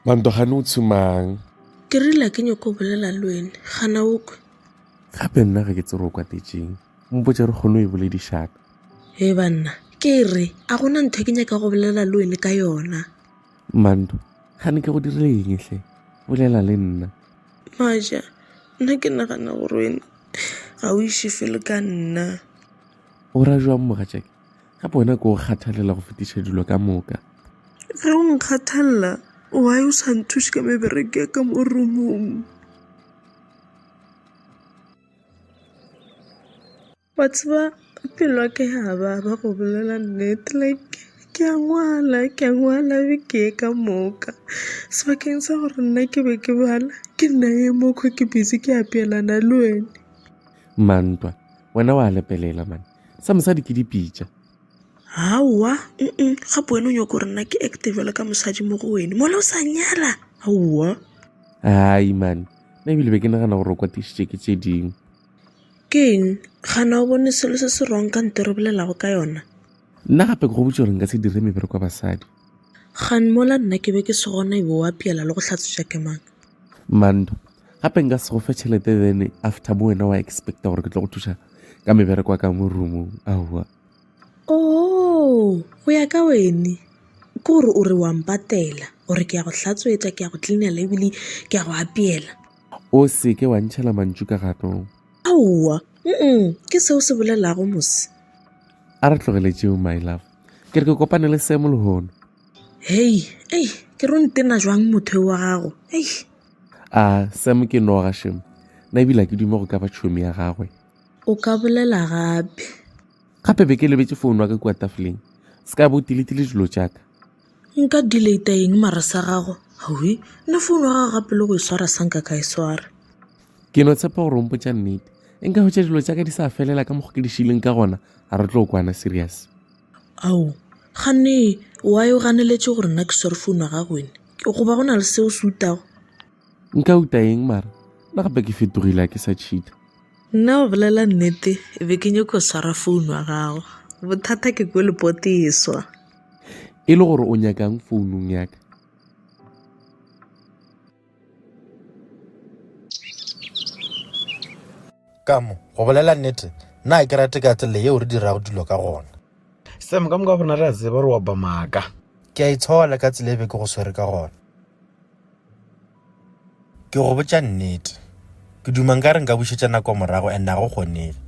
mantogane o tshimang ke rile ke nyoko bolela le wene gana o kwe gape nna ga ke tsere o kwatetseng mpotse re kgone o e boledišaka e banna ke re a gona ntho e ke nyaka go bolela le wene ka yona manto ga ne ke go dire engetlhe bolela le nna maja nna ke nagana gore wene ga o iše felo ka nna O ra jwang mogatšake? Ka bona ko o kgathalela go fetiša dilo ka moka. Ge o nkgathalela, wa yo sa nthuše ka mebereke ya ka mo rumong. Wa tseba pelo ya ka ya baba go bolela nnete like ke a ngwala ke a ngwala be ke ye ka moka sebakeng sa gore nna ke be ke bala ke nna ye mokgwa ke busy ke apeelana le wene mantwa Wena wa lepelela man. Sa mosadi ke dipitša. Aowa, mm gape wena o nyoko gore nna ke acte jwalo ka mosadi mo go wene. Mola o sa nyala. Aowa. Ai man. Nna ebile be ke nagana gore o kwatišitše ke tše dingwe. Ke eng? Gana o bone selo se se wrong ka nto re bolelago ka yona? Nna gape ke go botša gore nka se dire mebereko ya basadi. Kgan, Mola nna ke be ke se gona ebe o apeela le go hlatswetša ke mang? Mando, Gape nka se go fe tšhelete then after bo wena wa expecta gore ke tlo go thuša ka mebereko ya ka mo roomong aowa. Oo, go ya ka wene ke gore o re wa mpatela gore ke ya go hlatswetša ke ya go cleanela ebile ke ya go apeela. O se ke wa ntšhela mantšu ka gatong. Aowa, mm ke seo se bolelago mose. A re tlogele tšeo my love. ke re ke kopane le semo lehono hei ei ke ro ntena jwang motho wa gago ei a semo ke noga shemo na ebile ke dume go ka ba tšhomi ya gagwe o ka bolela gape gape be ke lebetse founu wa ka kua tafoleng se ka bo tiletile dilo tšaka Nka delete eng mara sa gago? Hwi, nna phone wa gago gape le go e swara sa nka ka e swara. Ke no tshepa gore o mpotša nnete. E nka hwetša dilo tša ka di sa felela ka mokgwa ke di šileng ka gona, a re tlo kwana serious. Ao, gane why o ganeletše gore nna ke swere phone wa gago wena? Goba go na le se o se utago? Nka uta eng mara? Na gape ke fetogile a ke sa cheater? Nna go bolela nnete e be ke nyoko swara founu wa gago bothata ke ko lepoteswa e le gore o nyakang founung yaka kamo go bolela nnete nna ke rate ka tsela yeo re dirago dilo ka gona sam ka moka go rena re a tseba gore wa ba maaka ke a itshola ka tsela e be ke go swere ka gona Ke go botša nnete, ke duma nka re nka bušetša nako morago and a go kgonege.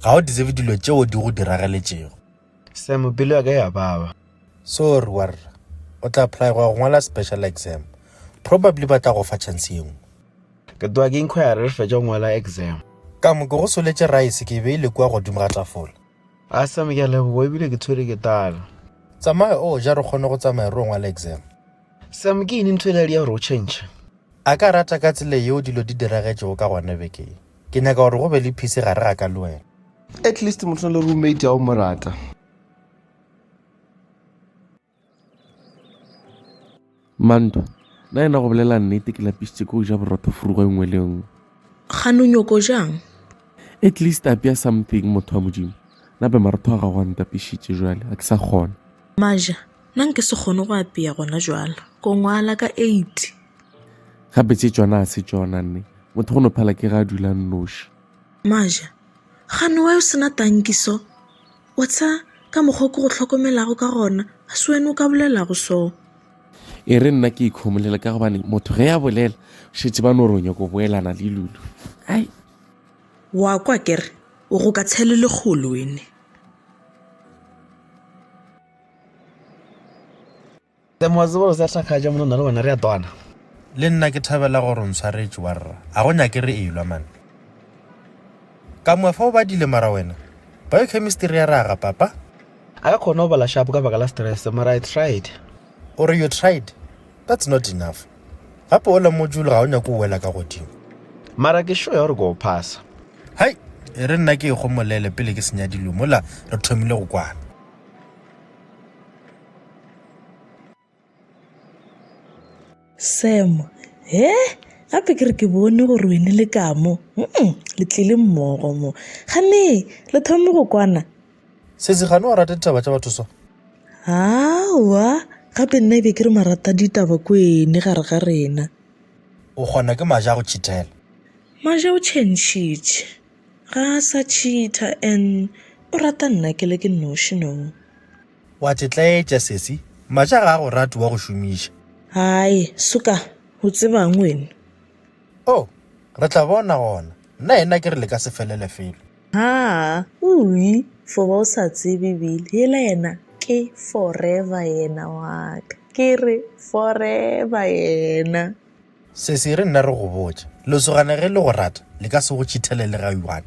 Ga o deserve dilo tšeo di go diragaletšego. Sam, pelo ya ka ya baba. Sorry warra, o tla apply go ya go ngwala special exam. Probably ba tla go fa chance ye nngwe. Ke tloga ke inquire re fetša go ngwala exam. Ka mo ke go soletše rice ke e beile kua godimo ga tafola. A Sam ke a leboga ebile ke tshwere ke tala. Tsamaya o ja re kgone go tsamaya re ngwala exam. Sam ke ini ntho ele ya gore o change? A ka rata ka tsela yeo dilo di diragetšego ka gona beke ye. Ke nyaka gore go be le phise gare ga ka le wena. At least motho na le roommate ya o mo rata. Mantwa, Na yena go bolela nnete ke lapisitše ke go ja borotho furugo e nngwe le nngwe. Gane o nyoko jang? At least apea something motho wa Modimo. Nape marotho a gago a ntapišitše jwale, ga ke sa kgona. Maja, Na nke se kgone go apea gona jwale? Ko ngwala ka eight. Gape tše tšona ga se tšona nne. Motho go no phala ke ga a dula nnoši. Maja, Gane wa yo sena tanki so? O tsha ka mokgwa o ke go hlokomelago ka gona, ga se wena o ka bolelago so. E re nna ke ikhomolela ka gobane motho ge a bolela šetse ba no re o nyako boelana le Lulu. Ai. Wa kwa kere o go ka tshele lekgolo wene. Hle motse gore sa hlakgatša mona nna le wena re a twana. Le nna ke thabela gore o ntshwaretše warra, ga go nyake re elwa man. Ka moya fa o badile mara wena, biochemistry ya raga papa. A ka kgona go bala sharp ka baka la stress mara I tried. O re you tried? That's not enough. Gape ola module ga o nyake o wela ka godimo. Mara ke sure ya gore ke o phasa. Hai! E re nna ke e gomolele pele ke senya dilo mola re thomile go kwana. Sam, he gape ke re ke bone gore wene le ka mo mm, le tlile mmogo mo gane le thome go kwana sesi gane wa rata ditaba tša batho so awa gape nna ebe ke re marata ditaba ko ene gare ga rena o kgona ke maja go chithela maja o chentšhitše ga a sa cheater and o rata nna ke le ke noši no O a tšetlaetša, sesi. Matša ga a go rate wa go šomiša. Haai, suka, o tseba'ng wena? Oh, re tla bona gona. Nna yena ke re le ka se felele felo. Haa, ui, fo ba o sa tsebe Billy, yela yena ke forever yena wa ka. Ke re forever yena. Sesi, re nna re go botša. Lesogana ge le go rata, le ka se go tšhithelele ga one.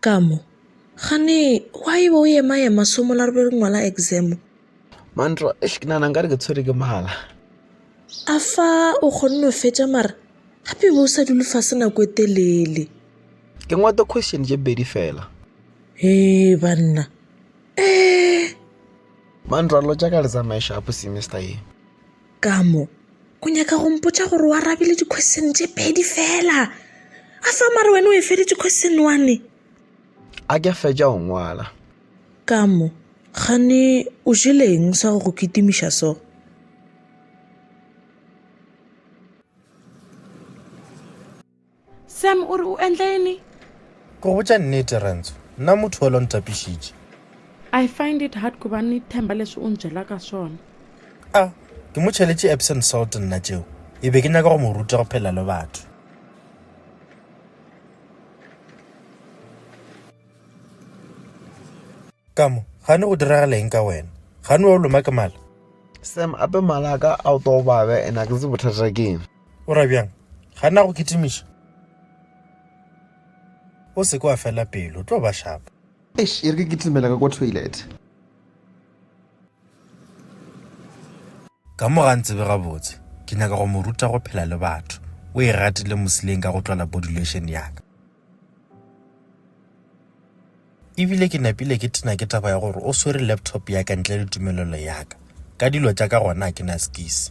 Ka mo, Gane, gwa e be o ema-ema somo la re be re ngwala examo. Mantro, Eish, ke nana nka re ke tshwere ke mala. A fa o kgonne o fetša mara gape be o sa dule fase nako e telele. Ke ngwate question tše pedi fela. Hee banna, Ee! Mantro a lotša ka le tsamaye shapo semester ye. ka mo o nyaka go mpotsa gore o arabile di-question tše pedi fela a fa mare wena o e feditse question one a ke fetša go ngwala ka mo gane o jeleng sa go go kitimiša so Sam o re o endleni? Go botša nnete, Renzo, nna motho yola o ntapišitše. I find it hard ku ba ni themba leswi u nbyela ka swona. A ke mo cheletše Epsom salt nna tšeo? E be ke nyaka go mo ruta go phela le batho. Ka mo, gane go diragala eng ka wena? Gane wa o loma ke mala? Sam, ape mala a ka a o tobabe ene a ke tsebe bothata keng. O ra bjang? Ga na go kitimiša? O se ke wa fela pelo, tlo ba shapo. Eish, e re ke kitimela ka ko toilet. Ka mo ga ntsebe gabotse, ke nyaka go mo ruta go phela le batho. O e ratile mosileng ka go tlola body lotion ya ka. Ebile ke napile ke tena ke taba ya gore o swere laptop ya ka ntle le tumelelo ya ka. Ka dilo tša ka gona a ke na skisi.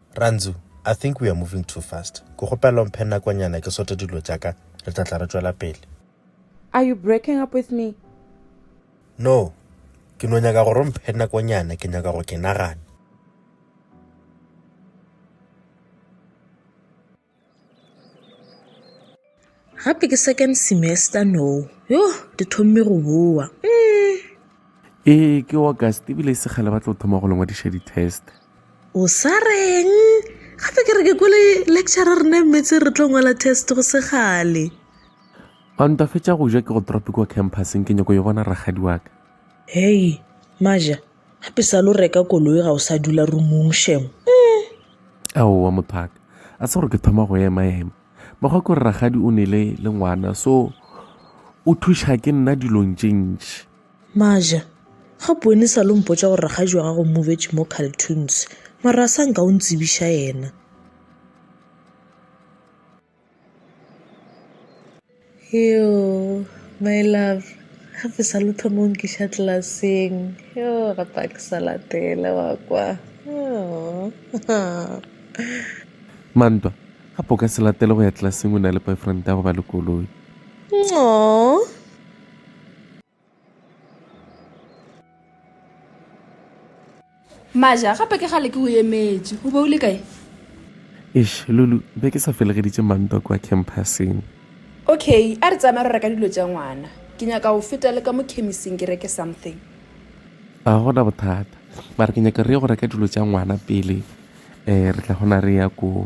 Rantzu, I think we are moving too fast. Ke kgopela o mphe nakonyana ke sote dilo tša ka, re tla tla re tšwela pele. Are you breaking up with me? No, ke no nyaka gore o mphe nakonyana, ke nyaka go ke nagana. gape ke second semester no yo di thomme go boa mm. ee ke august ebile e segale ba tlo thoma go lengwadiša di-test o sa reng gape ke re ke kwele lecture rena mmetse re tlo ngwala test go segale ba ntwafetša go ja ke go tropic wa campuseng ke nyako yo bona ragadi waka hei maja gape sa lo reka koloi ga o sa dula rumong shem mm. aowa mothaka a se gore ke thoma go ema ema mekgwa ke gore ragadi o nele le ngwana so o thuša ke nna dilong tše ntši maja ga bone sa lo mpotsa gore ragadi wa gago movetse mo caltoons mara a sa nka o ntsebiša yena Yoo, my love, gape sa le thoma o nkiša tlelaseng. Yoo, gape a ke sa latela wa kwa. Mantwa, gape o ka se latele go ya tlelaseng o na le boyfriend ya go ba le koloi. Aww. maja gape ke gale ke go emetše o be o le kae eš lulu be ke sa felegeditše mantwa kwa campuseng okay a re tsamaya re reka dilo tša ngwana ke nyaka go feta le ka mo chemising ke reke something a gona bothata mare ke nyaka re ye go reka dilo tša ngwana pele um re tla gona re ya koo